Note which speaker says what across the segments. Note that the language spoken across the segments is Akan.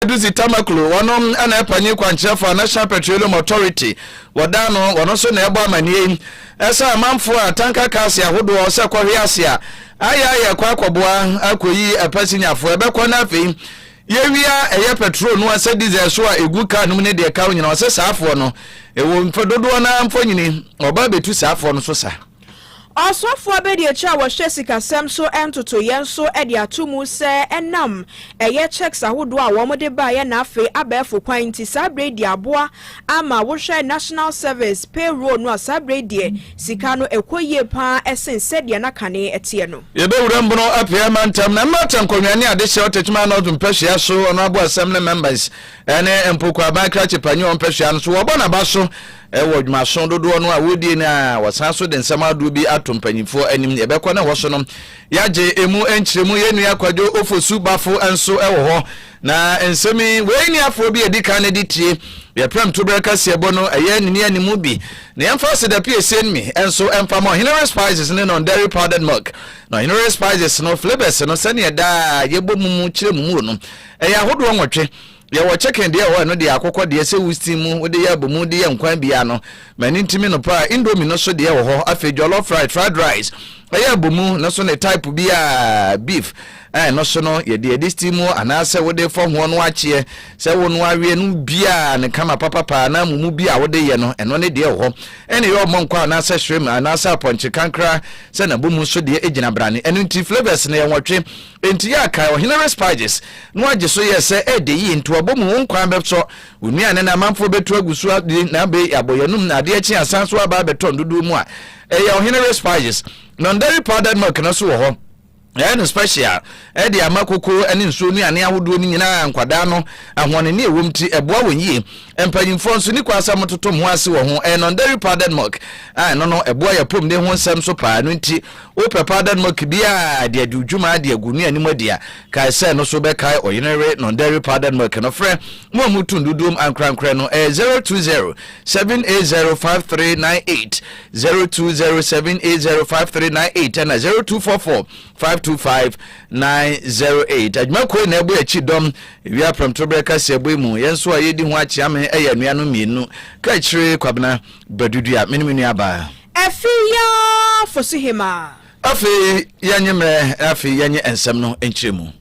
Speaker 1: Adusi Tamaklo, wɔnom na ɛpanyin kwankyerɛfo a National Petroleum Authority wɔdan no, wɔno nso na ɛbɔ amaneɛ yi sɛ amanfoɔ a tanka cars ahodoɔ sɛ kɔhwe ase a ayɛ ayɛ kɔ akɔboa akɔyi ɛpasinyafoɔ ɛbɛkɔ na afei yɛwia ɛyɛ petrol no asɛ diesel so a ɛgu car no mu ne deɛ ɛka ho nyina ɔsɛ saafoɔ no ɛwɔ mfɛ dodoɔ no ara mfonyini ɔba bɛtu saafoɔ no so saa Ɔsɔfo
Speaker 2: abadiakyiri a wɔhyɛ sikasɛm so ntotoeɛ nso de ato mu sɛ ɛnam ɛyɛ cheques ahodoɔ a wɔde baeɛ na afei abɛɛfo kwan nti saa berɛ yi deɛ aboa ama wohwɛ National Service payroll no a saa berɛ yi deɛ sika no ɛkɔ yie pa ara sen sɛdeɛ na kane ɛteɛ no. Yɛbɛwura mu no
Speaker 1: apueɛ mantam na mmata nkonnwa ne adehyeɛ ɔtɛkyima North mpɛhwea so ɔno aboasɛm ne members ɛne mpo kwaban krakye panyin ɔmpɛhwea no so wɔbɔ n'aba so Ɛwɔ dwumaso dodoɔ no a wɔredie no a, wɔsan nso de nsɛm ahodoɔ bi ato mpanyinfoɔ anim. Yɛbɛkɔ na ɛhɔ so no yɛagye emu nkyerɛmu. Yɛn nua Kwadwo Ofosu Bafo nso wɔ hɔ. Na nsɛm yi, wei ni afoɔ bi a ɛdi kan no de tie. Yɛprɛm to berɛ kaseɛbɔ no, ɛyɛ ne ne animu bi. Na yɛmfa asedapie ɛsien mi nso mfa ma Ɔhenere Spices ne non-dairy powdered milk. Na Ɔhenere Spices no, flavours no, sɛdeɛ daa yɛbɔ mu mu kyerɛ mu mu no, ɛyɛ ahodoɔ nwɔtwe. Yɛwɔ chicken deɛ wɔ hɔ ɛno deɛ akokɔ deɛ sɛ wo steam mu wode yɛ abomu de yɛ nkwan biara no m'ani ntumi no paa indomie no so deɛ wɔ hɔ afei jollof rice fried rice ɛyɛ abomu no so ne type bi a beef ɛn no so no yɛ deɛ de steam mu anaasɛ wode fɔ hoɔ no akyeɛ sɛ wo no aweɛ no biara ne kama papapaa na mumu bi a wode yɛ no ɛno ne deɛ wɔ hɔ ɛne yɛ ɔmɔ nkɔ anaasɛ shrimp anaasɛ apɔnkye kankra sɛ nabomu so deɛ ɛgyina brane ɛno nti flavors no yɛ nwɔtwe Enti yɛ a kae Ɔhene Respigis no agye so yɛɛ sɛ ɛɛdɛ yie, ntoabɔ mu wo nkwa abɛsɔ, wo nnuane na amanfoɔ bɛtu agu so adi na abei yɛabɔ yɛn anom na adeɛ kye a san so aba abɛtɔ ndodoɔ mu a ɛyɛ Ɔhene Respigis non-dairy powdered milk no nso wɔ hɔ. Yɛayɛ no special ɛde ama kokoo ne nsuo nnuane ahodoɔ no nyinaa a nkwadaa no ahoɔnene ɛwɔ mu nti ɛboa wɔn yie. Mpanyinfoɔ nso ni kwan sɛ wɔtoto mo ase wɔ ho. Ɛyɛ non-dairy powdered milk a ɛno no ɛboa yɛn apɔmuden ho nsɛm nso paa ɛno nti Wopɛ powdered milk bi a de adi wo dwuma de agu ne anim adi a, kae sɛ ɛno so bɛkae ɔyenewe non-dairy powdered milk no. Frɛ mo a mutu nduduom ankorankorɛ no, ɛyɛ 020 780 5398, 020 780 5398 ɛna 0244 525 908. Adwuma kuo yi na ɛbɔ yɛn akyi dɔm wia prɛmtoberɛ kaseɛbɔ yi mu. Yɛn nso a yɛdi ho akyeame ɛyɛ anuanom mmienu, Kaakyire Kwabena Badudua, me ne me nuabaa. Afei yɛ ara
Speaker 2: fo so hemaa. Afei
Speaker 1: yɛ nye mmerɛ na afei yɛ nye nsɛm no nkyerɛmu.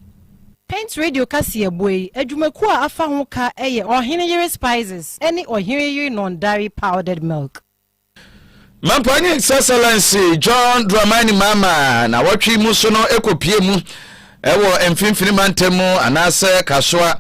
Speaker 1: Paint
Speaker 3: Radio kaseɛbɔ yi adwumakuo a afa ho ka yɛ Ɔhene Yere Spices ne Ɔhene Yere Non-Dairy Powdered Milk.
Speaker 1: Mampɔn ne Sɛsɛlɛnse John Dramani Mahama na awɔtwe yi mu so no kɔ pie mu Ɛwɔ mfimfini mantam mu anaasɛ Kasoa.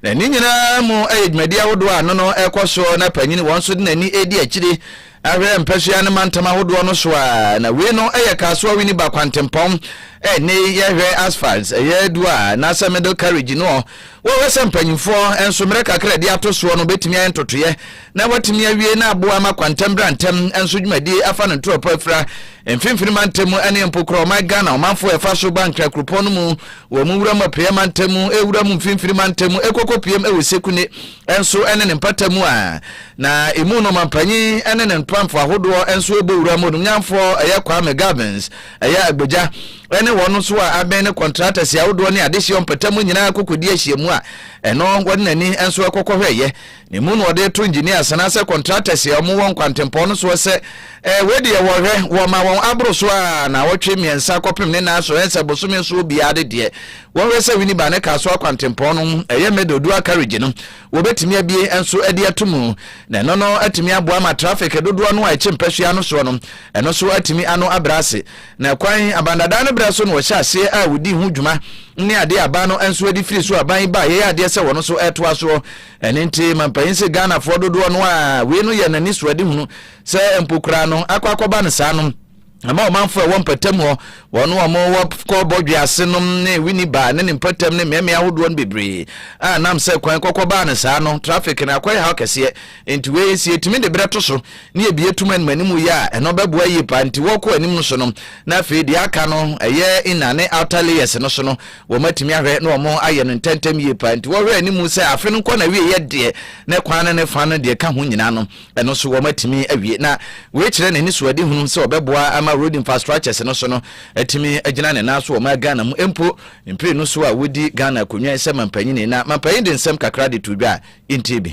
Speaker 1: Na ne nyinaa mu yɛ dwumadi ahodoɔ a ano no rekɔ soɔ na panyin wɔn nso de n'ani redi akyiri ahwɛ mpasua ne mantam ahodoɔ no so a na wei no yɛ Kasoa Winneba kwantempɔn a ɛnnɛ yi yɛhwɛ asphalt ɛyɛ adu a anaasɛ middle carriage no wɔhwɛ sɛ mpanyinfoɔ nso mmerɛ kakra a ɛde ato soɔ no bɛtumi ayɛ ntotoeɛ na wɔatumi awie na aboa ma kwantam bra ntɛm nso dwumadi afa no ntorɔpɔ afira mfimfini mantam mu ne mpokorɔ ɔman ghana ɔmanfoɔ ɛfa so ba nkra kuropɔn no mu wɔ mu wura mu apueɛ mantam mu ɛwura mu mfimfini mantam mu ɛkɔkɔ piem ɛwɔ sekune nso ne ne mpata mu a na ɛmu no mampanyin ne ne mpamfo ahodoɔ nso ɛbɔ wura mu nomnyanfoɔ ɛyɛ kwame gavins ɛyɛ agbagya ɛne wɔn nso a abɛn ne kɔntrata si ahodoɔ ne adehyeɛ mpata mu nyinaa kɔkɔdi ahyiamu a ɛno wɔde n'ani nso ɛkɔkɔhwɛeɛ Ne mu na wɔde to engineers anaasɛ contractors a wɔwɔ nkwantempɔn no soɔ sɛ, eh, wei deɛ wɔhwɛ, wɔma wɔn aboro so a naawɔtwe mmiɛnsa kɔpem ne nan so, ɛnsɛ bosome nso obiara de deɛ wɔhwɛ sɛ Winneba ne Kasoa kwantempɔn no ɛyɛ middle dual carriage no wɔbɛtumi abie nso de ato mu na ɛno no atumi aboa ma traffic dodoɔ no a ɛkye mpasua no soɔ no ɛno so atumi ano abrɛ ase na kwan abandadaa no berɛ so na wɔhyɛ aseɛ a wɔdi ho dwuma ne adeɛ aban no nso adi firi so aban yi ba yɛyɛ adeɛ sɛ wɔn nso ɛtoa soɔ Ɛno nti mampanyin se Ghanafoɔ dodoɔ no ara wei no yɛ no anisoadehunu sɛ mpo koraa no akɔ akɔba no saa no ɛma ɔmanfoɔ ɛwɔ mpatamu hɔ wɔn a wɔwɔ kɔ bɔdwe ase nom ne Winneba ne ne mpatam ne mmeammea ahodoɔ no bebree a nam sɛ kwan kɔkɔbaa no saa no traffic no akɔyɛ haw kɛseɛ nti wei sɛ yɛtumi de berɛ to so ne yɛbie tum anim anim yɛ a ɛno bɛboa yie paa nti wɔkɔ anim no so no na afei deɛ aka no ɛyɛ inner ne outer layers no so no Wɔatumi ahwɛ na wɔayɛ no ntɛmntɛm yie paa, nti wɔhwɛ anim sɛ afe no nkɔ n'awieeɛ deɛ, ne kwan no ne fa no deɛ ɛka ho nyinaa no, ɛno nso wɔatumi awie. Na wei kyerɛ n'anisoadehunu sɛ ɔbɛboa ama road infrastructures no so no atumi agyina ne nan so wɔ ɔman Ghana mu mpo mprenu so a wɔdi Ghana akonnwa yi sɛ mampanyini. Na mampanyin de nsɛm kakra de too dwa a, yɛntie bi.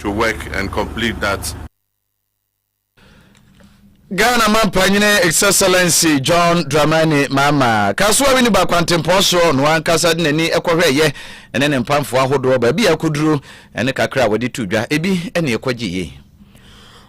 Speaker 4: to work and complete that.
Speaker 1: Ghana Mampanyini His Excellency John Dramani Mahama Kasoa Winneba Kwantempɔn so ɔno ankasa de n'ani kɔhwɛeɛ ɛne ne mpamfoɔ ahodoɔ baabi a akɔduru ɛne kakra a wɔde to dwa ebi ɛne ɛkɔgye yei.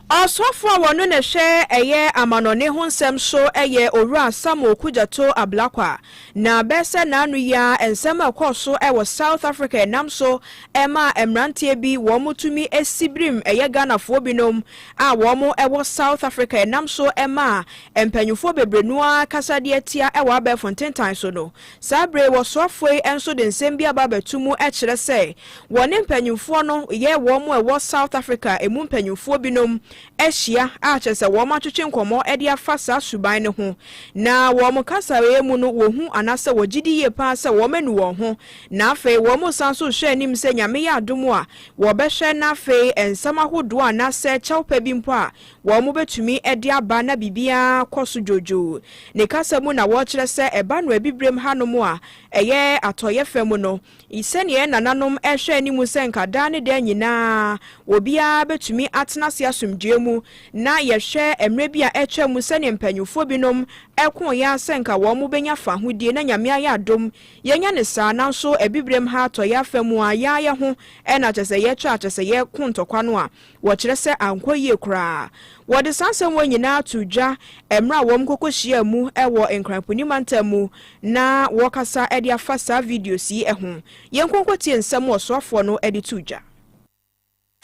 Speaker 2: Ɔsɔfo a wɔno na ɛhwɛ ɛyɛ amanɔne ho nsɛm so yɛ Owura Samuel Kudjato Ablakwa. Na bɛyɛ sɛ naano yi ara nsɛm a ɛkɔɔ so wɔ South Africa yi nam so maa mmranteɛ bi wɔn tumi si birim ɛyɛ Ghanafoɔ binom a wɔn wɔ South Africa yi nam so maa mpaninfoɔ bebree no ara kasadeɛ tia wɔ abɛɛfo ntentan so no. Saa berɛ yi wɔsoafoɔ yi nso de nsɛm bi aba abɛto mu kyerɛ sɛ wɔne mpaninfoɔ no yɛ wɔn a ɛwɔ South Africa ɛmu mpaninfoɔ binom ahyia a kyerɛ sɛ wɔatwetwe nkɔmmɔ de afa saa suban no ho, na wɔ wɔn kasaeɛ mu no wɔhu anaasɛ wɔgye di yie paa sɛ wɔanu wɔn ho, na afei wɔresan nso rehwɛ anim sɛ Nyame yɛ adom a wɔbɛhwɛ na afei nsɛm ahodoɔ anaasɛ kyɛw pa bi mpo a wɔbɛtumi de aba na biribiara kɔ so dwoodwoo. Ne kasa mu na wɔrekyerɛ sɛ ɛba no Abibirem hanom a ɛyɛ Atɔeɛ fam no, I Sɛnea yɛn nananom hwɛ anim sɛ anka daa ne daa nyinaa obiara betumi atena ase asomdwoe mu, na yɛhwɛ mmere bi a atwam mu sɛnea mpanyimfo binom koo yɛn ara sɛ anka wɔbenya fahodie, na Nyame ayɛ adom yɛanya no saa, nanso Abibirem ha, atɔeɛ afa mu a, yɛn ara yɛn ho na kyerɛ sɛ yɛkyerɛ a, kyerɛ sɛ yɛko ntɔkwa no a, Wɔkyerɛ sɛ ankɔ yie koraa. Wɔde saa nsɛm wei nyinaa too dwa mmerɛ a wɔn kɔkɔhyiaa mu wɔ Nkran Puni mantam mu na wɔrekasa de afa saa videos yi ho. Yɛnkɔ nkɔtie nsɛm a ɔsoafoɔ no de too dwa.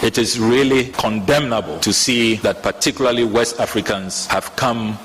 Speaker 5: It is really condemnable to see that particularly West Africans have come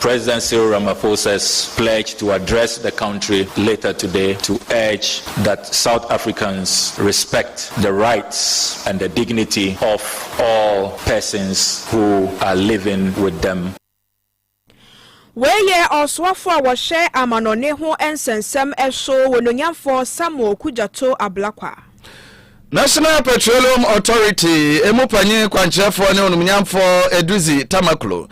Speaker 5: President Cyril Ramaphosa's pledge to address the country later today to urge that South Africans respect the rights and the dignity of all persons who are living with them. Wei yɛ
Speaker 2: ɔsoafo a wɔhwɛ amanɔne ho nsɛnsɛm so, Onuonyamfo Samuel Kudjato Ablakwa. National
Speaker 1: Petroleum Authority emu panyin kwankyerɛfoɔ ne onumnyamfoɔ Edudzi Tamaklo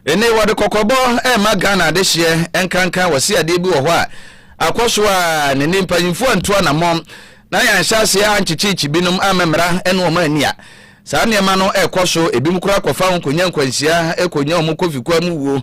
Speaker 1: ene wɔde kɔkɔbɔ ɛrema Ghana adehyeɛ nkanka wɔse adeɛ bi wɔ hɔ a akɔ so a ne ne mpanyinfoɔ antu anamɔn na yɛanhyɛ aseɛ ankyekyeekye binom ama mmara ɛne wɔn ani a saa nneɛma no ɛrekɔ so ebinom koraa kɔfa wɔn kɔnya nkwanhyia kɔnya wɔn kɔfikua mu wuo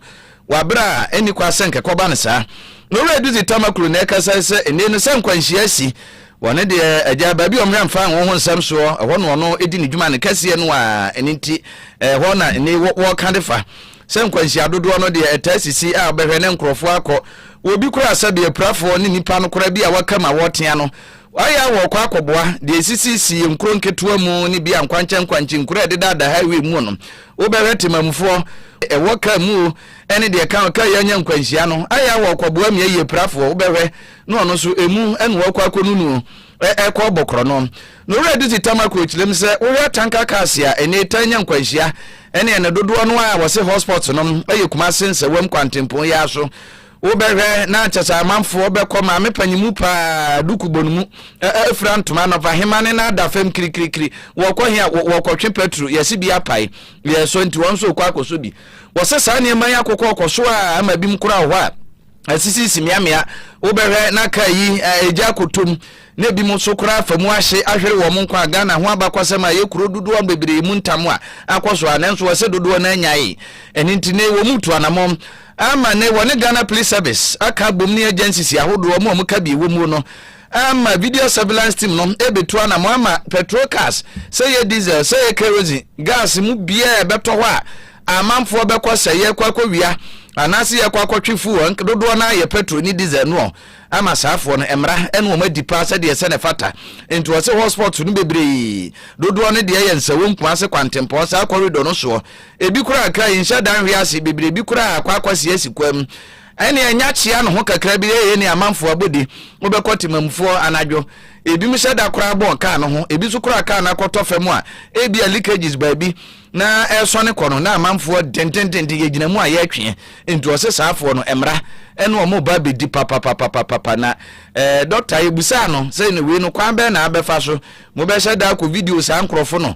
Speaker 1: Wɔ aber a nnyi kwa sɛ nkɛkɔba no saa. No wura Edudzi Tama Kru na ɛkasae sɛ, Ndɛ no sɛ nkwanhyia asi, wɔ no deɛ agyaa baabi a ɔmmerɛ mfa anwo ho nsɛm soɔ, ɛhɔ na ɔno di ne dwuma no kɛseɛ no ara, ɛno nti ɛhɔ na nnɛ yi wɔka de fa sɛ nkwanhyia dodoɔ no deɛ ɛtaa sisi a wobɛhwɛ na nkorɔfoɔ akɔ wɔ obi koro asɛbea apirafoɔ ne nipa no koraa bi a waka ma wɔtea no ayɛ a wɔkɔ akɔboa deɛ ɛsisisii nkuro nketewa mu ne bi a nkwankyɛnkwankye nkuro a ɛdedada highway mu no Wobɛhwɛ temammufoɔ, ɛwɔ kaa mu o, ɛne deɛ ɛka ɔkaa yi anya nkwanhyia no, ayɛ a wɔrekɔboa mmea yiepirafoɔ, wobɛhwɛ na ɔno nso emu ɛna ɔrekɔ akɔnunu o, ɛrekɔ ɔbɔ korɔno. Na Owura Dutse Tamakloe kyerɛm sɛ, wohwɛ atanka cars a ɛnnɛ yi taa nya nkwanhyia, ɛne ɛne dodoɔ no ara a wɔse hotspots no yɛ Kumase Nsawam kwantempɔn yi ara so, Wobɛhwɛ na kyɛ sɛ amanfoɔ bɛkɔ maame panyin mu paa duku bɔ no mu afira ntoma anɔpa hema ne n'ada fam kirikirikiri wɔkɔ he a wɔkɔtwe pɛtro yɛse bi apae yɛ so nti wɔn nso rekɔ akɔsɔ bi wɔse saa nneɛma yi akokɔ ɔkɔ so a ama bi mu koraa hɔ a asisisi mmeammea wobɛhwɛ na ka yi ɛgya akotom na ebi mu nso koraa afa mu ahye ahwere wɔn nkwa a ghana ho abakɔsɛm a ɛyɛ kuro dodoɔ bebree mu ntam a akɔ so a nanso wɔse dodoɔ no anyae ɛne nti ne wɔn mu tu anamɔm Ama nnɛ, wɔne Ghana Police Service aka abom ne agencies ahodoɔ ɔmo a ɔmo ka bi wɔ muo no ama video surveillance team no ɛbetu anamɔ ama petrol cars sɛ ɛyɛ diesel sɛ ɛyɛ kerosene gas mu biaa a ɛbɛtɔ hɔ a amanfoɔ bɛkɔ sɛ yɛkɔ akɔ wia anaase yɛkɔ akɔ twe fuel dodoɔ no ayɛ petrol ne diesel noɔ ama saafoɔ no mmara ɛne wɔn adi paa sɛdeɛ sɛ ne fata nti wɔ se hotspot no bebree dodoɔ no deɛ yɛ nsɛwɔ nkuase kwantempɔn saa corridor no soɔ Ebi koraa kra yinhyɛ da nhwe ase bebree bi koraa akɔ akɔ si asi kwam ɛne anya kyea no ho kakra bi eye ne amanfo abɔde mobɛkɔ temamufo hɔ anadwo ebinom hyɛ da koraa bɔn kaa no ho ebi so koraa kaa no akɔtɔ fam a ebia leakages baabi na ɛresɔne kɔ no na amanfoɔ dentententen yɛgyina mu a yɛretweɛ nti ɔse saafoɔ no mmra ɛne ɔmo ba bɛdi papapapapapa na eh, dɔkta yɛbusaa no sɛ ne wei no kwan bɛn na abɛfa so mobɛhyɛ da akɔ video saa nkorɔfo no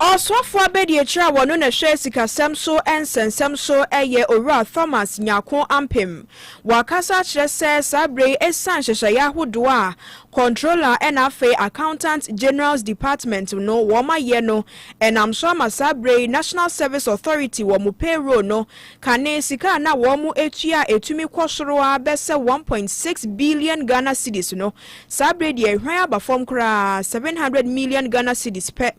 Speaker 2: Ɔsoafoɔ abadiakyire a ɔno na ɛhwɛ sikasɛm so nsɛnsɛm so yɛ Owura Thomas Nyarko Ampem. Wakasa akyerɛ sɛ saa berɛ yi ɛsiane nhyehyɛeɛ ahodoɔ a Controller ɛna afei Accountant General's Department no wɔn ayɛ no ɛnam so ama saa berɛ yi National Service Authority wɔn payroll no Kane sika a na wɔtua a ɛtumi kɔ soro ara bɛsɛ one point six billion Ghana cedis no, saa berɛ yi deɛ hwan aba fam koraa, seven hundred million Ghana cedis pɛ.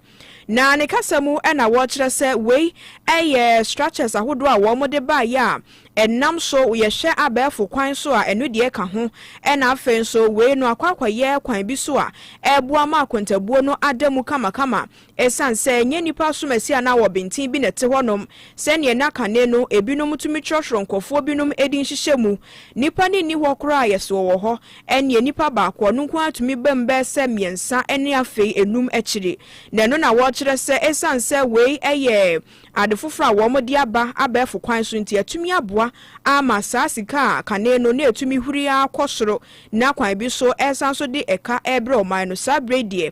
Speaker 2: Na ne kasa mu na wɔkyerɛ sɛ wei yɛ structures ahodoɔ a wɔde baeɛ a ɛnam so yɛhwɛ abɛɛfo kwan so a ɛno deɛ ka ho, ɛna afei nso wei no akɔ akɔyɛ kwan bi so a ɛboa ma akontabuo no ada mu kamakama Esiane sɛ ɛnyɛ nnipa som asi anaa wɔbenten bi na ɛte hɔnom, sɛnea na kane no ebinom tumi kyerɛkyerɛw nkurɔfoɔ binom edin hyehyɛ mu. Nnipa no nni hɔ koraa a yɛse wɔwɔ hɔ. Ɛnneɛ nnipa baako, ɔno nko ara tumi bam bɛyɛ sɛ mmiɛnsa ne afei nnum akyiri. Na ɛno na wɔkyerɛ sɛ esiane sɛ wei yɛ ade foforɔ a wɔde aba abɛɛfo kwan so nti, atumi aboa ama saa sika a kane no na ɛtumi huri ara kɔ soro na kwan bi so ɛresan so de ɛka rebrɛ ɔman no. Saa berɛ yi deɛ.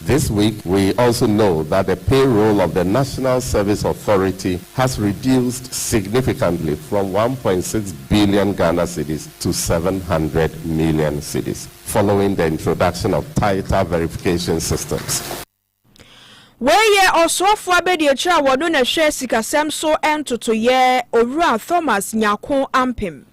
Speaker 6: This week we also know that the payroll of the National Service Authority has reduced significantly from one point six billion Ghana cedis to seven hundred million cedis following the introduction of tighter verification systems.
Speaker 2: Wei yɛ Ɔsoafoɔ Abadiakyire a wɔno na ɛhwɛ sikasɛm so ntotoeɛ, Owura Thomas Nyarko Ampem.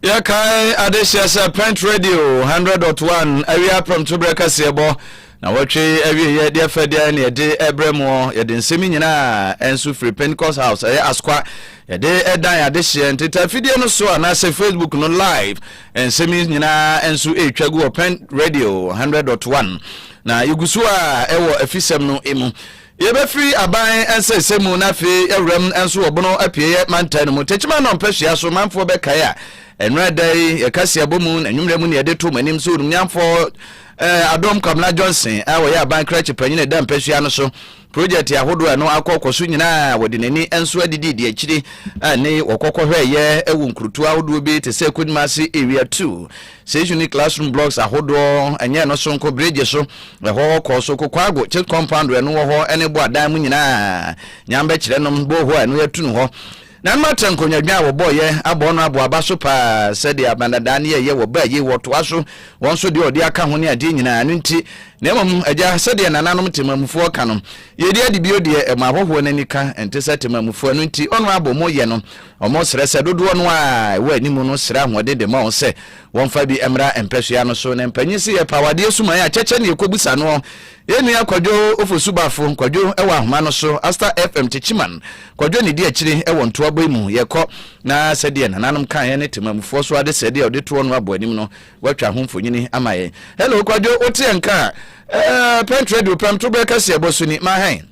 Speaker 2: Yɛkae
Speaker 1: adehyeɛ sɛ Pent Radio 100.1 awie aprɛmto berɛ kaseɛbɔ na wɔtwe awieɛ deɛ fɛ deɛ ne yɛde ɛbrɛ muɔ yɛde nsɛm nyinaa nso firi Pentecost House ɛyɛ Asokwa yɛde ɛdan adehyeɛ nteta fidie no so anaasɛ Facebook no live nsɛm nyinaa nso ɛretwa gu wɔ Pent Radio 100.1 na yɛgu so a ɛwɔ afisɛm no mu Yɛbɛfiri aban nsɛesɛe mu na afei awuram nso wɔ bono apieeɛ mantan no mu. Tekyima na ɔmpɛhwea so manfoɔ bɛkae a ɛnora da yi yɛka si abɔ mu na nwummerɛ mu ne yɛde to mo anim sɛ onumnyamfoɔ eh, Adom Kwamena Johnson a wɔyɛ aban krakye panyin ɛda mpɛhwea no so project ahodoɔ a ɛno akɔkɔ so nyinaa wɔde n'ani nso adidi di akyiri a ne wɔkɔkɔhwɛɛyɛ wɔ nkurutoa ahodoɔ bi te sɛ Kodwuma ase area 2 Sɛ isu ne classroom blocks ahodoɔ ɛnyɛ ɛno soronko bridge so ɛhɔ kɔɔ so Kokoago chit compound ɛno wɔ hɔ ɛne bo adan mu nyinaa nyam bɛkyerɛ nom bɔɔho a ɛno yɛatu no hɔ na nom atra nkonnwadwa a wɔbɔɔyɛ abɔɔ no abɔ aba so paa sɛdeɛ abanadaa ne yɛyɛ wɔ baa yie wɔtoa so wɔn nso deɛ ɔde aka ho ne adeɛ nyinaa no nti na mmom agya sɛdeɛ nananom temamufoɔ ka no yɛdi adi bio deɛ ɛma ahɔhoɔ no ani ka ɛnte sɛ temamufoɔ ɛno nti ɔno abɔ mu yɛ no Wɔsrɛ sɛ dodoɔ no ara a ɛwɔ anim no srɛ ahoɔden de ma wɔn sɛ wɔmfa bi mmra mpasua no so. Na mpanyin se yɛpɛ awadeɛ suman a kyɛkyɛ na yɛkɔbusa noɔ. Yɛn nua Kwadwo Ofosu Bafo, Kwadwo wɔ ahoma no so, Aster FM Kyekiman, Kwadwo ne di akyiri wɔ ntoabɔ yi mu. Yɛkɔ na sɛdeɛ nananom kaeɛ ne temamufoɔ so adesɛdeɛ a ɔde toɔ no abɔ anim no, watwa ho mfonyini ama yɛn. Hello Kwadwo, woteɛ nka a, eh, Pɛnt Radio pɛm, toberɛ kɛseɛ bɔ so ni, ma hɛn.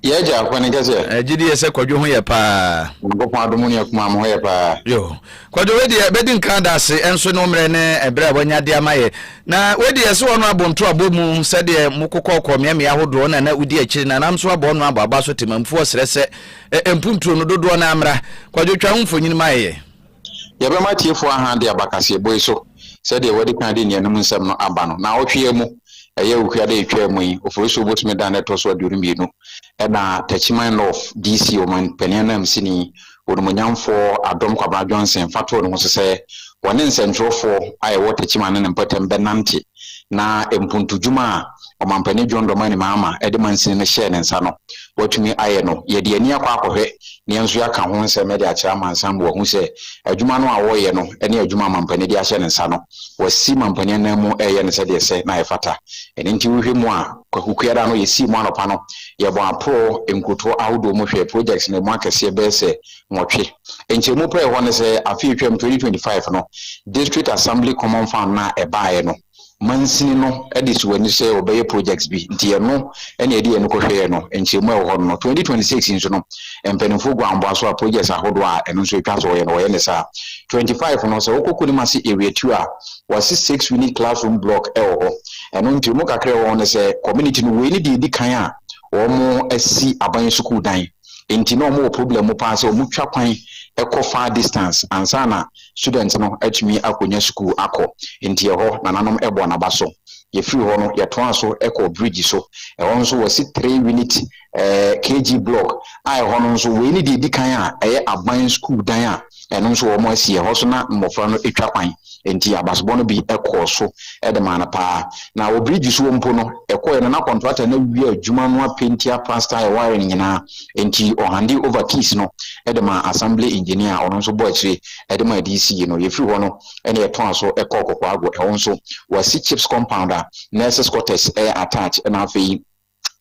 Speaker 1: Yɛ agya
Speaker 7: akwa ne kɛseɛ. Ɛgye die sɛ kwadwo ho yɛ
Speaker 1: paa. Nyankopɔn adomu ne akuma
Speaker 7: mo ho yɛ paa. Yo kwadwo
Speaker 1: wei deɛ bɛdi nkan daase ɛnso ne ommerɛ ne ɛberɛ a wanya de ama yɛ na wei deɛ ɛsɛ wɔn abɔ nto abɔ mu sɛdeɛ mo kokɔkɔ mmeammea ahodoɔ na na wodi akyiri na nam nso abɔ ɔno abɔ aba so temamfuo srɛ sɛ ɛmpuntuo no dodoɔ no amra kwadwo twa ho mfonyini ma yɛ. Yɛbɛma
Speaker 7: atiefo ahan de aba kaseɛbɔ yi so sɛdeɛ wɔadi kan de nnianim nsɛm no aba no. Naawɔtwe yi mu, ɛyɛ Awufiada a ɛtwaa mu yi, Oforisuo bosome da no ɛtɔ so aduonu mmienu, ɛna Techiman North, DC. Ɔmanpanin ananmusini, Onimuonyamfoɔ Adom Kwabena Johnson fa too ne ho so sɛ, wɔne nsɛntwerɛfoɔ a ɛwɔ Techiman ne ne mpɔtam bɛnante. na mpontodwuma a Ɔmampanin John Dramani Mahama de mansini no hyɛɛ ne nsa no, watumi ayɛ no. Yɛde yɛn ani akɔ akɔhwɛ na yɛn nso yɛaka ho nsɛm de akyerɛ amansan ma wɔahu sɛ adwuma no a ɔreyɛ no ne adwuma a Mampanin de ahyɛ ne nsa no, wasi Mampanin ananmu reyɛ no sɛdeɛ ɛsɛ na ɛfata. Ɛno nti wohwɛ mu a, Kwaku Kuada no, yɛsii mu anɔpa no, yɛbɔɔ aporɔɔ nkurotoɔ ahodoɔ mu hwɛɛ projects no mu akɛseɛ bɛyɛ sɛ nwɔtwe. Nkyerɛmu pa a ɛwɔ hɔ ne sɛ afe a ɛtwaam, 2025, no, District Assembly Common Fund no a ɛbaeɛ no, mansini no de sii wɔn ani so sɛ wɔbɛyɛ projects bi, nti ɛno na yɛde yɛn ani kɔhwɛeɛ no, nkyerɛmu a ɛwɔ hɔ no no. 2026 yi nso no, mpanimfoɔ gu anboa so a projects ahodoɔ a ɛno nso ɛtwa sɛ wɔyɛ no, wɔyɛ no saa. 25 no, sɛ wokɔ Kunimasi Area Two a, wɔasi six unit classroom block wɔ hɔ. Ɛno nkyerɛmu kakra a ɛwɔ ho ne sɛ, community no, wei ne deɛ ɛdi kan a wɔasi aban sukuu dan. nti na wɔwɔ problem mu paa sɛ wɔtwa kwan kɔ far distance ansa na student no atumi akɔnya sukuu akɔ. Nti ɛhɔ nananom bɔɔ n'aba so. Yɛfiri hɔ no yɛtoaa so kɔɔ bridge so. Ɛhɔ nso wɔasi three unit eh, kg block a ɛhɔ no nso wei ne deɛ ɛdi kan a ɛyɛ aban sukuu dan a Ɛno nso wɔ wɔn asi ɛhɔ so na mmofra no twa kwan. Enti abasobɔ no bi kɔɔ so de maa no paa. Na wɔ birigyi so mpo no, ɛkɔe no na kɔntratani no awie adwuma no apenti aprastaa a ɛware no nyinaa. Enti ɔhande over keys no de maa Assembly Engineer a ɔno nso bɔɔ akyire de maa DC no. Yɛfiri hɔ no na yɛtoaa so kɔɔ Kokoago. Ɛhɔ nso wɔasi Chips Compound a Nurses Quarters attach na afei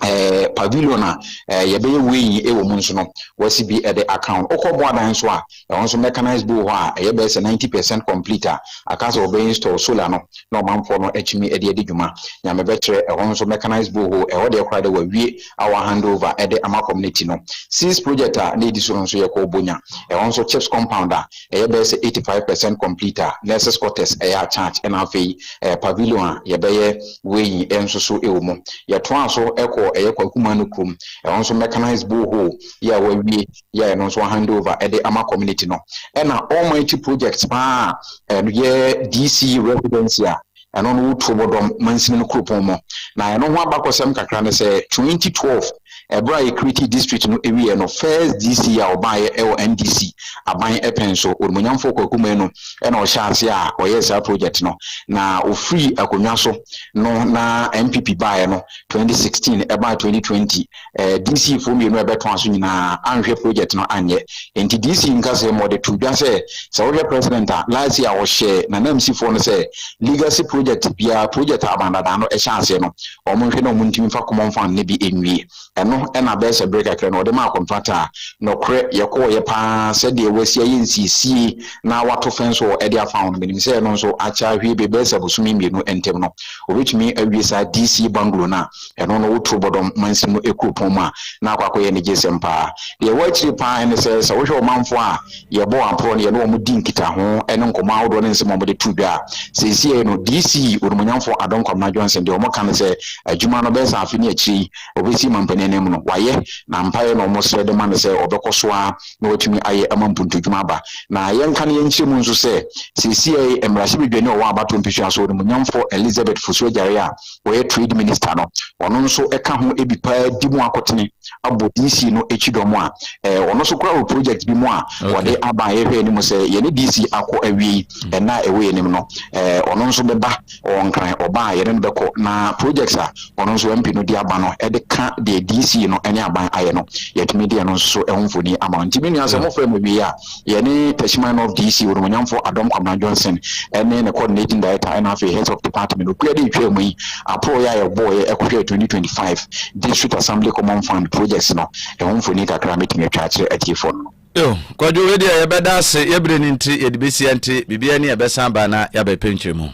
Speaker 7: eh, pavilion a eh, yɛbɛyɛ weighing wɔ mu nso no, wɔasi bi de aka ho. Wokɔ boadan nso a, ɛhɔ nso mechanized bi wɔ hɔ a ɛyɛ bɛyɛ sɛ 90 percent complete a aka sɛ wɔbɛ install solar no na ɔmanfoɔ no atumi de adi dwuma. Nea mebɛkyerɛ ɛhɔ nso mechanized borehole, ɛhɔ deɛ koraa de wɔawie a wɔahand over de ama community no. Seas project a na ɛdi so no nso yɛkɔɔ Bonya, ɛhɔ nso chips compound a ɛyɛ bɛyɛ sɛ eighty five percent complete a, nurses quarters yɛ attached ɛna afei pavilion a yɛbɛyɛ weighing nso so wɔ mu. Yɛtoaa so kɔɔ ɛyɛ Kwaku Manu kurom, ɛhɔ nso mechanised borehole yɛ a wɔawie yɛ a ɛno nso wɔahand over de ama community no. Ɛna almighty project paa a ɛyɛ DC residency a Ɛno no wotuo bɔ dɔm mansini no kuropɔn mɔ. Na ɛno ho abakɔsɛm kakra ne sɛ, 2012 ɛberɛ a Ekriti district no ɛwieɛ no, first DC a ɔbaeɛ ɛwɔ NDC aban ɛpɛn so, Onimuonyamfoɔ Kwaku Manu ɛna ɔhyɛɛ aseɛ a ɔyɛɛ saa project no. Na ɔfirii akonnwa so no na NPP baeɛ no 2016 ɛbaa 2020. eh, DCfoɔ mmienu a ɛbɛtɔn aso nyinaa anhwɛ project no anyɛ. Enti DC nkasa mu ɔde to dwa sɛ sɛ wohwɛ president a last year ɔhyɛ nanamsifoɔ no sɛ legacy project biara project a abandadaan no ɛhyɛ aseɛ no wɔn nhwɛ na wɔn ntumi fa common fund no bi nwie. Ɛno ɛna bɛyɛ sɛ bere kakra no ɔde maa contractor a nɔkorɛ yɛkɔɔyɛ paa sɛdeɛ wasi ayɛ nsiesie na wato fence wɔ ɛde afa ho no menim sɛ ɛno nso akyɛ ahwie bɛbɛyɛ sɛ bosome mmienu ntam no wɔbɛtumi awie saa DC bungalow no a Ɛno no wo turo bɔdɔm mansin no kuropɔn mu a na akɔ akɔyɛ anigyesɛm paa. Deɛ ɛwɔ akyire paa ne sɛ, sɛ wohwɛ ɔmanfoɔ a yɛbɔ wɔn aporɔ no, yɛne wɔn di nkitaho ne nkɔmmɔ ahodoɔ ne nsɛm a wɔde to dwa a, seesei no DC Onimuonyamfoɔ Adom Kwabena Johnson deɛ wɔka ne sɛ adwuma no bɛyɛ sɛ afe ne akyire yi ɔbɛsi mampanin anim no wayɛ na mpaeɛ na wɔsrɛ de ma no sɛ ɔbɛkɔ so ara na watumi ayɛ ama mpuntudwuma aba. Na yɛnka ne yɛnkyerɛ mu nso sɛ seesei mmarahyɛbadwani a ɔwɔ Abatɔ Mpesua so Onimuonyamfoɔ Elizabeth Fosu Agyare a ɔyɛ trade minister no, ɔno nso ka ho bi paa di mu akotene abɔ DC no akyi dɔm a eh, ɔno nso kora wɔ project bi mu a wɔde aba yɛhwɛ anim sɛ yɛne DC akɔ awie yi mm. ɛna ɛwɔ yɛn anim no eh, ɔno nso bɛba ɔwɔ nkran ɔba a yɛne no bɛkɔ na projects a ɔno nso MP no de aba no ɛde ka deɛ DC no ne aban ayɛ no yɛtumi deɛ no nso ɛho mfoni ama nti me nua sɛ mofrɛ mu wie a Yɛne Teshman of DC. Onuonyamfo Adom Kwabena Johnson ne ne Coordinating Director ɛna afei Heads of Department okuo de ntwaa mu yi aporɔeɛ a yɛbɔeɛ ɛkɔhwɛɛ 2025 District Assembly Common Fund Projects no ɛho mfoni kakra mɛtumi atwa akyerɛ atiefoɔ no. Yo, Kwadwo wei
Speaker 1: deɛ yɛbɛda ase, yɛ berɛ no nti, yɛde bɛsi ɛnte, biribiara ni a ɛbɛsan aba na yɛabɛpɛ nkyerɛmu.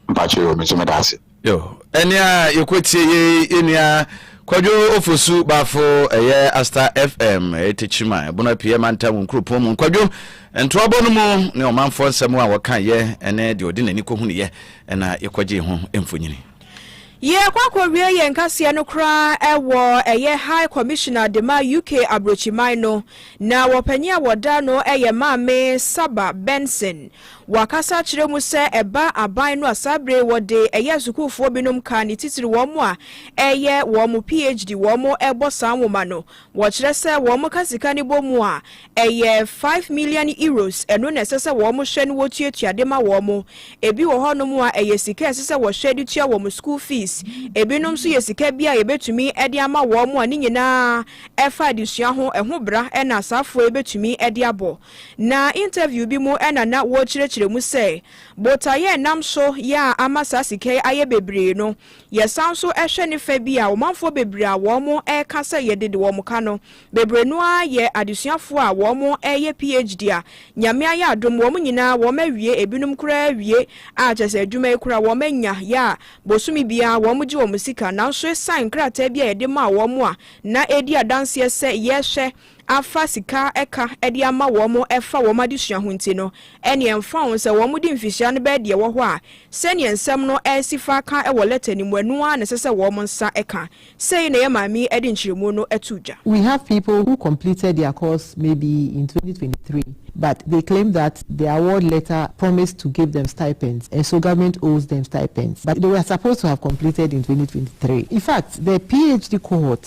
Speaker 1: Mpakyɛ yoo, me nso
Speaker 7: meda ase. Yo, ɛne a
Speaker 1: yɛkɔtie yɛ yɛnua Kwadwo Ofosu Bafo ɛyɛ Asta FM ɛyɛ Tekyima ɛbono apue mantam wo nkuropɔn mu Kwadwo ntoabɔ no mu ne ɔmanfoɔ nsɛm a wɔka yɛ ɛne deɛ ɔde n'ani kɔhunu yɛ ɛna yɛkɔgye ho mfonyini. Yɛkɔ
Speaker 2: akɔwie yɛn kaseɛ no koraa ɛwɔ ɛyɛ High Commissioner dema UK Abrokyiman no na wɔpanin a wɔda no ɛyɛ Maame Saba Benson Wɔakasa akyerɛ mu sɛ ɛba aban no a saa bere wɔde ɛyɛ asukuufoɔ binom ka ne titiri wɔn a ɛreyɛ wɔn PHD wɔn rebɔ saa nwoma no. Wɔkyerɛ sɛ wɔn ka sika no bɔ mu a, ɛyɛ five million euros, ɛno na ɛsɛ sɛ wɔn hwɛ no wɔtuatua de ma wɔn. Ebi wɔ hɔnom a ɛyɛ sika a ɛsɛ sɛ wɔhwɛ de tua wɔn sukuu fees, ebinom nso yɛ sika bi a yɛbɛtumi de ama wɔn a ne nyinaa ɛfa adesua ho, ɛho bra na asaafoɔ yi bɛtumi de abɔ. Na interview bi mu na na wɔrekyerɛkyerɛ mu sɛ botaeɛ a ɛnam so yɛ a ama saa sika yi ayɛ bebree no, yɛsan nso hwɛ ne fɛ bi a, ɔmanfoɔ bebree a wɔreka sɛ yɛde de wɔn ka no, bebree no ara yɛ adesuafoɔ a wɔreyɛ PHD a Nyame ayɛ adom wɔn nyinaa wɔawie, ebinom koraa awie a kyerɛ sɛ adwuma yi koraa wɔanya yɛ a bosome biara wɔgye wɔn sika. Nanso esiane nkrataa bi a yɛde maa wɔn a na ɛredi adanseɛ sɛ yɛhwɛ afa sika ɛka de ama wɔn ɛfa wɔn adesua ho nti no, ɛneɛ ɛmfa ho sɛ wɔn de mfihyia no bɛyɛ deɛ ɛwɔ hɔ a, sɛdeɛ nsɛm no ɛresi faaka wɔ lɛta no mu, ɛno ara na ɛsɛ sɛ wɔn nsa ka. Sei na yɛn maame yi de nkyerɛmu no too dwa. We have people who
Speaker 8: completed their course maybe in twenty twenty three but they claim that the award letter promised to give them stipends and so government owes them stipends but they were supposed to have completed in twenty twenty three. In fact, the PHD cohort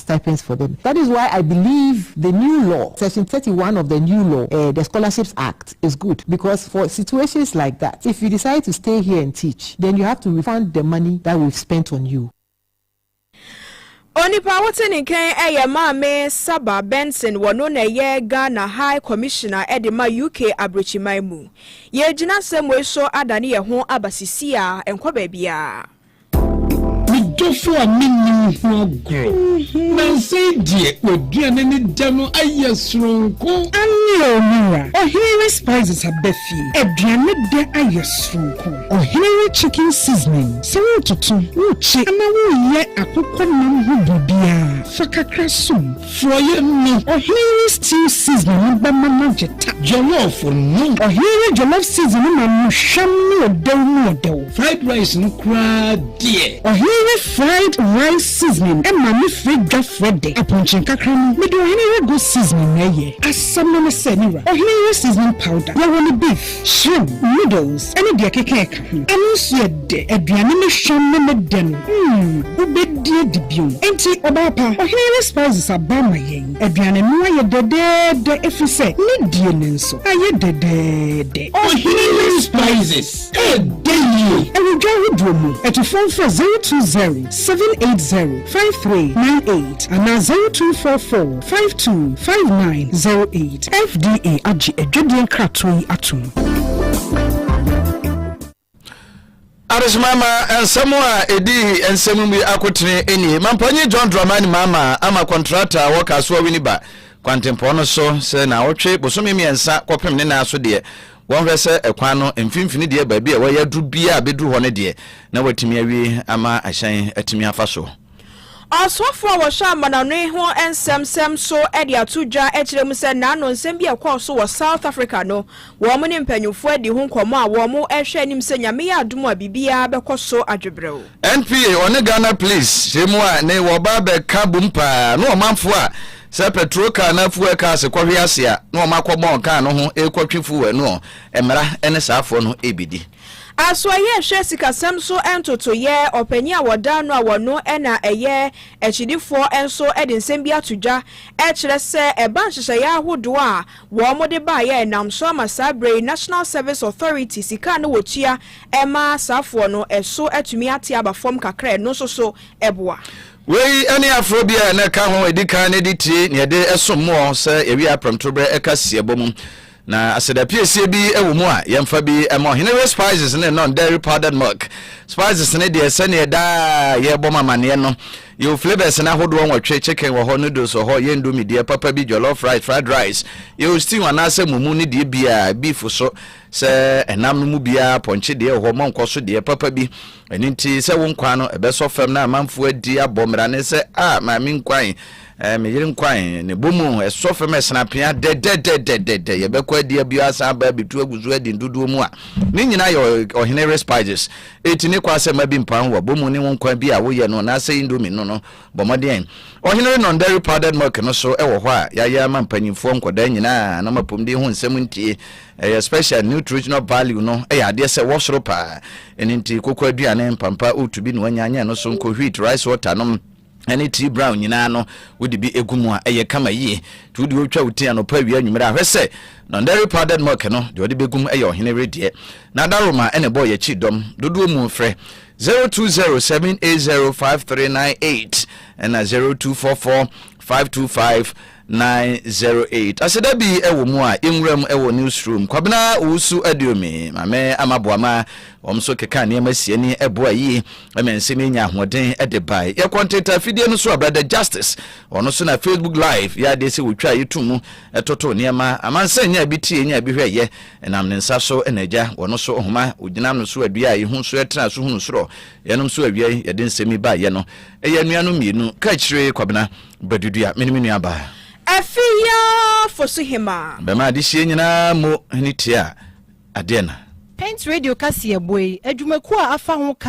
Speaker 8: stipends for dem that is why I believe the new law section thirty one of the new law eh the scholarships act is good because for situations like that if you decide to stay here and teach then you have to refund the money that we've spent on you. Onipa
Speaker 2: a wote ne nkan yɛ Maame Saba Benson, wɔno na ɛyɛ Ghana High Commissioner de ma UK Abrokyiman mu. Yɛregyina asɛmmɔi so adane yɛn ho aba sisi a, ɛnkɔ baabiara. Me
Speaker 9: dɔfo a menni wo ho agorɔ. Nansa yi deɛ w'aduane ne dɛ no ayɛ soronko. Aane o me wura. Ɔhene we spices aba fie. Aduane dɛ ayɛ soronko. Ɔhene we chicken seasoning. Sɛ wototo, wokye anaa woyɛ akokɔ nam ho biribiara, fa kakra som. Frɔeɛ no. Ɔhene no stew seasoning no bɛma no agye ta. Jollof no. Ɔhene no jollof seasoning no ma no hwam no ɔdɛw mu ɔdɛw. Fried rice no koraa deɛ. Ɔhene no fried rice seasoning ma me frɛ dwa frɛ dɛ. Apɔnkye nkakra no, mede ɔhene no goat seasoning na ɛyɛ. Asɛm no ne sɛ, me wura, ɔhene no seasoning powder, yɛwɔ no beef. Shrimp, noodles ne deɛ ɛkeka ɛka ho. Ɛno nso yɛ dɛ. Aduane ne hwam ne me dɛ no mm wobɛdi adi bio. Enti ɔbaa pa, ɔhene ne spices aba ama yɛn. Aduane no ayɛ dɛdɛɛdɛ ɛfiri sɛ ne die no nso ayɛ dɛdɛɛdɛ. Ɔhene ne spices ɛɛdɛ yie. Ɛwɔ dwa ahodoɔ mu. Atufoɔ mfrɛ zero two zero seven eight zero. five three nine eight anaa zero two four four five two five nine
Speaker 1: zero eight. FDA agye adwadie nkratoɔ yi atom. Adesoman ma nsɛm a ɛdi nsɛm mu yi akotene nie. Mampanyin John Dramani Mahama ama kɔntrata a wɔka so awini ba kwantempɔn no so sɛ naawɔtwe bosome mmiɛnsa kɔpem ne nan so deɛ Wɔnhwɛ sɛ ɛkwan no mfimfini deɛ baabi a wɔyɛ aduru biara bɛduru hɔ no deɛ na wɔatumi awie ama ahyɛn atumi afa so. Ɔsomafoɔ
Speaker 2: a wɔhwɛ amanɔne ho nsɛm sɛm nso de ato dwa kyerɛ mu sɛ naano nsɛm bi a ɛkɔɔ so wɔ South Africa no, wɔn ne mpanyimfoɔ adi ho nkɔmmɔ a wɔn rehwɛ anim sɛ Nyame yɛ adom a biribiara bɛkɔ so adwebrɛw. NPA ɔne
Speaker 1: Ghana Police hyɛmu a ne wɔba abɛka bom paa ne ɔmanfoɔ a Sɛ pɛtro kaa anaa fuwɛl kaa se kɔhwe ase a, na wɔn akɔ bɔn kaa no ho rekɔtwe fuwɛl no ɔ. Mmara ne saa foɔ no rebedi. Asoɛyɛ
Speaker 2: hwɛ sikasɛm so ntotoyɛ, ɔpanin a wɔdaa no a wɔno na ɛyɛ akyidifoɔ nso de nsɛm bi ato dwa kyerɛ sɛ ɛba nhyehyɛeɛ ahodoɔ a wɔde baeɛ a ɛnam so ama saa berɛ yi National Service Authority sika a na wɔtua ma asaafoɔ no so atumi ate aba fam kakra a ɛno nso so boa Wei ne
Speaker 1: aforo bi a na ɛka ho edi kan ne de tie nea ɛde som mu ɔ sɛ yɛwie aprɛmtorobere ɛka siebɔ mu. Na aseda piesie bi wɔ mu a yɛmfa bi ma ɔhene we spices ne non dairy powdered milk. Spices ne deɛ sɛdeɛ daa yɛbɔ mo amaneɛ no yɛwɔ flavors no ahodoɔ nwɔtwe, chicken wɔ hɔ, noodles wɔ hɔ, yɛndu mi deɛ papa bi, jollof rice, fried rice, yɛwɔ stew anaasɛ mumu ne deɛ biaa, beef so, Sɛ ɛnam no mu biara pɔnkye deɛ ɛhɔ ma nkɔ so deɛ papa bi. Ɛno nti sɛ wo nkwan no ɛbɛsɔ fam na amanfoɔ adi abɔ mmara ne sɛ a maame nkwan, eh, me yere nkwan, ne bɔ mu ɛsɔ fam ɛsena apea dɛdɛdɛdɛdɛdɛ yɛbɛkɔ adi abio asan aba abitu agu so adi ndodoɔ mu a ne nyinaa yɛ ɔhene respiges ɛti ne kɔ asɛ ma bi mpan wɔ bɔ mu ne wo nkwan bi a woyɛ no anaasɛ indomie no no Bɔ mmɔden. Ɔhene Renon Dairy Powdered Milk no so wɔ hɔ a yɛayɛ ama mpanyimfoɔ nkwadaa nyinaa na ɔma apɔmuden ho nsɛm ntie. Ɛyɛ special nutritional value no yɛ adeɛ sɛ wɔ soro paa. Ɛno nti koko aduane, mpampa, oat bi na wanya nyɛ ɛno so nko, wheat, rice water nom, ɛne tea brown nyinaa no wode bi gu mu a ɛyɛ kama yie. Nti wode wotwa wo ti anɔpa awia anwummere a hwɛ sɛ Non Dairy Powdered Milk no deɛ ɔde bɛgum yɛ ɔhene weredeɛ. N'adaroma na ɛbɔɔ yɛn akyiri dɔm dodoɔ mu frɛ. Zero two zero seven eight zero five three nine eight ɛna zero two four four five two five nine zero eight aseda bi ɛwɔ mu a yɛnwura mu ɛwɔ newsroom kwabena owusu aduomi maame amaboama wɔn nso keka nneɛma sie ne ɛboa yie ɛmɛ nse ne nya ahoɔden ɛde bae yɛ kɔntenta afidie no so a brother justice wɔn nso na facebook live yɛ adeɛ sɛ wɔtwa yɛtu mu ɛtoto nneɛma amansa nya bi tie nya bi hwɛ yɛ Ɛnam ne nsa so na Agya wɔ no so nhoma, ogyinam no so adua a ehu so ɛtena so hunu soro. Yɛnom nso awiei yɛde nsɛm yi baeɛ no, ɛyɛ anuanom mmienu, Kaakyire Kwabena Badudua me ne me nuabaa. Afi Yaa
Speaker 2: Fosuhemaa. Bɛma adehyeɛ nyinaa
Speaker 1: mu hene tia
Speaker 3: adeɛ na. Paint
Speaker 1: Radio
Speaker 3: kaseɛbɔ yi adwumakuo a afa ho ka.